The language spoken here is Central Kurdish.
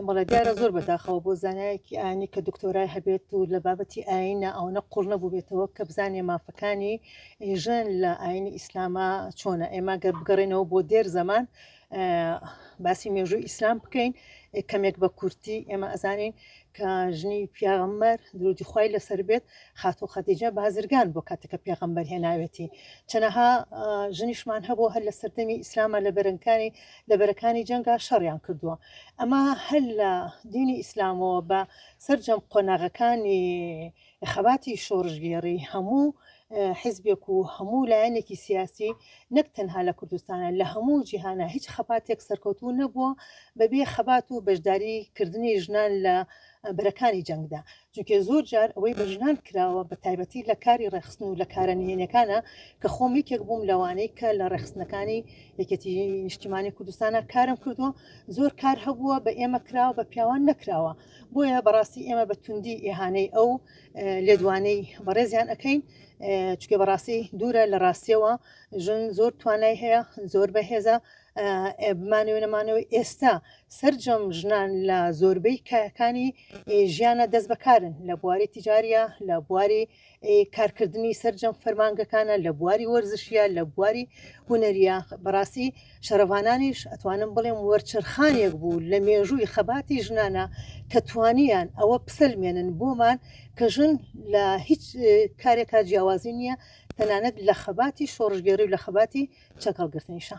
بەڵێ دیارە زۆر بەداخەوە بۆ زانایەکی ئاینی کە دکتۆرای هەبێت و لە بابەتی ئاینە ئەوەنە قوڵ نەبووبێتەوە کە بزانێ مافەکانی ژن لە ئاینی ئیسلامە چۆنە ئێمە گەر بگەڕێنەوە بۆ دێر زەمان باسی مێژوو ئیسلام بکەین کەمێک بە کورتی ئێمە ئەزانین کە ژنی پیاغەممەر درودی خی لەسەر بێت خاتۆ خەتیجە بازرگان بۆ کاتەکە پێغەمبەر هێناوێتی چەنەها ژنیشمان هەبوو هەر لە سەردەمی ئیسلامە لە بەرەنکانی لە بەرەکانی جەنگا شەڕیان کردووە ئەمە هەر لە دینی ئیسلامەوە بە سەررجەم قۆناغەکانی خەباتی شۆڕژگێڕی هەموو حزبێک و هەموو لایەنێکی سیاسی نەک تەنها لە کوردستانە لە هەموو جیهانە هیچ خەباتێک سەرکەوتوو نەبووە بەبێ خەبات و بەشداری کردنی ژنان لە بەرەکانی جەنگدا چونکێ زۆر جار ئەوەی بە ژنان کراوە بە تایبەتی لە کاری ڕێخستن و لە کارە نهێنیەکانە کە خۆم یەکێک بووم لەوانەی کە لە ڕێخستنەکانی یەکێتی نیشتیمانی کوردستانە کارم کردووە زۆر کار هەبووە بە ئێمە کراوە بە پیاوان نەکراوە بۆیە بەڕاستی ئێمە بە توندی ئێهانەی ئەو لێدوانەی بەڕێزیان ئەەکەین چکە بەڕاستی دوورە لە ڕاستیەوە ژن زۆر توانای هەیە زۆر بەهێزە بمانەوە نەمانەوە ئێستا سرجەم ژنان لە زۆربەی کایەکانی ژیانە دەست بەکارن لە بواری تجاریە لە بواری کارکردنی سرجەم فەرمانگەکانە لە بواری وەرزشیە لە بواری هوەریە بەڕاستی شەرڤانانیش ئەتوانم بڵێم وەرچرخانێک بوو لە مێژووی خەباتی ژنانە کە توانیان ئەوە پسەلمێنن بۆمان کە ژن لە هیچ کارێکا جیاوازی نییە تەنانەت لە خەباتی شۆڕژگەری و لە خەباتی چەکەڵگرتنیشە